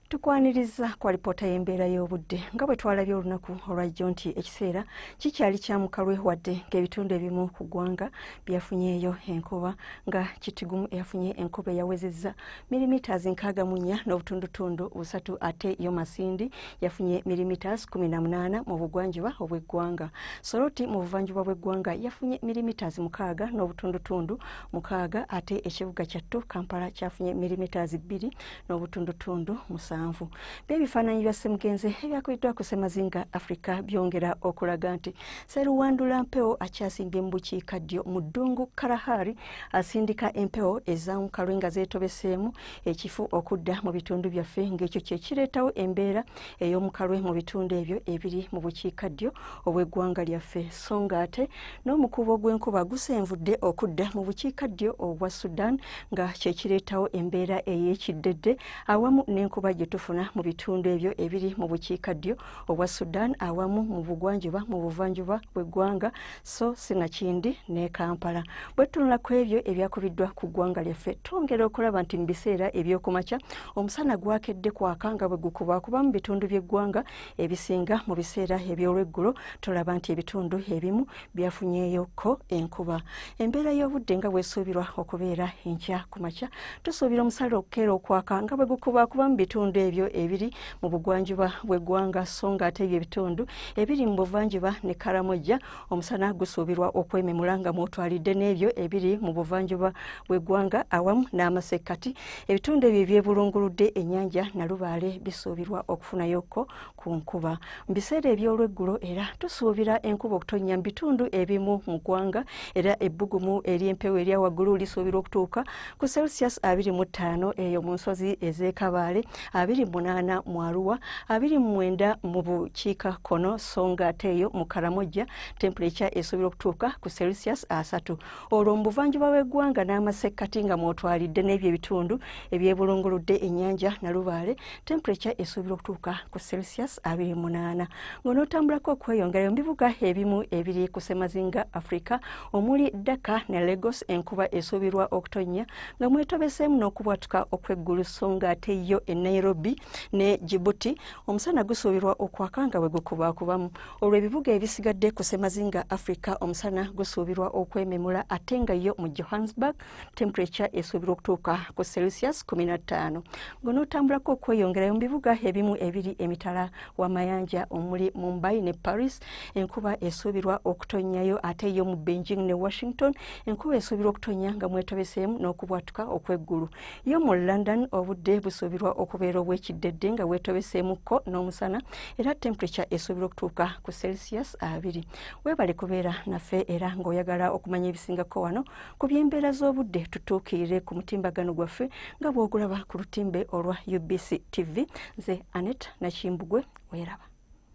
tukwaniriza ku alipoota y'embeera y'obudde nga bwe twalabye olunaku olwajjo nti ekiseera kikyali kya mukalwe wadde ng'ebitundu ebimu ku ggwanga byafunyeeyo enkuba nga kitigumu eyafunye enkuba eyawezezza milimiters nkaaga mu nnya n'obutundutundu busatu ate yo masindi yafunye milimiters kumi na munaana mu bugwanjuba obw'eggwanga soroti mu buvanjuba bw'eggwanga yafunye milimiters mukaaga n'obutundutundu mukaaga ate ekibuga kyattu kampala kyafunye milimetas bbiri n'obutundutundu musanvu byebifaananyi bya semugenze ebyakubiddwa ku semazinga africa byongera okulaga nti seruwandula mpewo akyasimbye mu bukiika ddyo mu ddungu karahari asindika empewo ezamukalwe nga zeetobeseemu ekifu okudda mu bitundu byaffe ng'ekyo kyekireetawo embeera ey'omukalwe mu bitundu ebyo ebiri mu bukiika ddyo obw'eggwanga lyaffe so nga ate n'omukuubo gw'enkuba gusenvudde okudda mu bukiika ddyo obwa sudan nga kyekireetawo embeera ey'ekiddedde awamu n'enkuba gye tufuna mu bitundu ebyo ebiri mu bukiika ddyo obwa sudan awamu mu bugwanjuba mu buvanjuba bw'eggwanga so sinakindi ne kampala bwe tutunula ku ebyo ebyakubiddwa ku ggwanga lyaffe twongera okulaba nti mu biseera ebyokumakya omusana gwakedde kwaka nga bwe gukubakuba mu bitundu by'eggwanga ebisinga mu biseera eby'olweggulo tulaba nti ebitundu ebimu byafunyeyokko enkuba embeera y'obudde nga bwesuubirwa okubeera enkya ku makya tusuubira omusala okukeera okwaka nga bwe gukubakuba mu bitundu ebyo ebiri mu bugwanjuba bw'eggwanga so nga ate ebyo ebitundu ebiri mu buvanjuba ne karamojja omusana gusuubirwa okwememula nga mwotwalidde n'ebyo ebiri mu buvanjuba bw'eggwanga awamu n'amasekkati ebitundu ebyo ebyebulunguludde ennyanja nalubaale bisuubirwa okufunayoko ku nkuba mu biseera eby'olweggulo era tusuubira enkuba okutonnya mu bitundu ebimu mu ggwanga era ebbugumu ery'empewo erya waggulu lisuubirwa okutuuka ku celsius abiri mu ttaano eyo mu nsozi ez'ekabaale abiri munaana mu aruwa abiri mumwenda mu bukiika kkono so nga ate eyo mu karamojja tempuleca esobola okutuuka ku celsius asatu olwo mu buvanjuba bw'eggwanga n'amasekkati nga mwotwalidde n'ebyo ebitundu ebyebulunguludde ennyanja nalubaale tempuleca esobola okutuuka ku celsius abiri munaana ng'onootambulako okweyongerayo mu bibuga ebimu ebiri ku semazinga africa omuli daka ne lagos enkuba esuubirwa okutonnya nga mwetobeseemu n'okubwatuka okw'eggulu so nga ate yo e nairobi ne jibuti omusana gusuubirwa okwaka nga bwe gukubakubamu olwo ebibuga ebisigadde ku semazinga africa omusana gusuubirwa okwememula ate nga yo mu johannesburg temperature esuubirwa okutuuka ku celsius 15 ngonootambulako okweyongerayo mu bibuga ebimu ebiri emitala w'amayanja omuli mumbai ne paris enkuba esuubirwa okutonnyayo ate yo mu beijing ne washington enkuba esuubirwa okutonnya nga mwetobeseemu n'okubwatuka okw'eggulu yo mu london obudde busuubirwa okubeera obw'ekiddedde nga bwetobeseemukko n'omusana era temperature esuubirwa okutuuka ku celsius abiri weebale kubeera naffe era ng'oyagala okumanya ebisingako wano ku by'embeera z'obudde tutuukirire ku mutimbagano gwaffe nga bw'ogulaba ku lutimbe olwa ubc tv nze anet nakimbugwe weeraba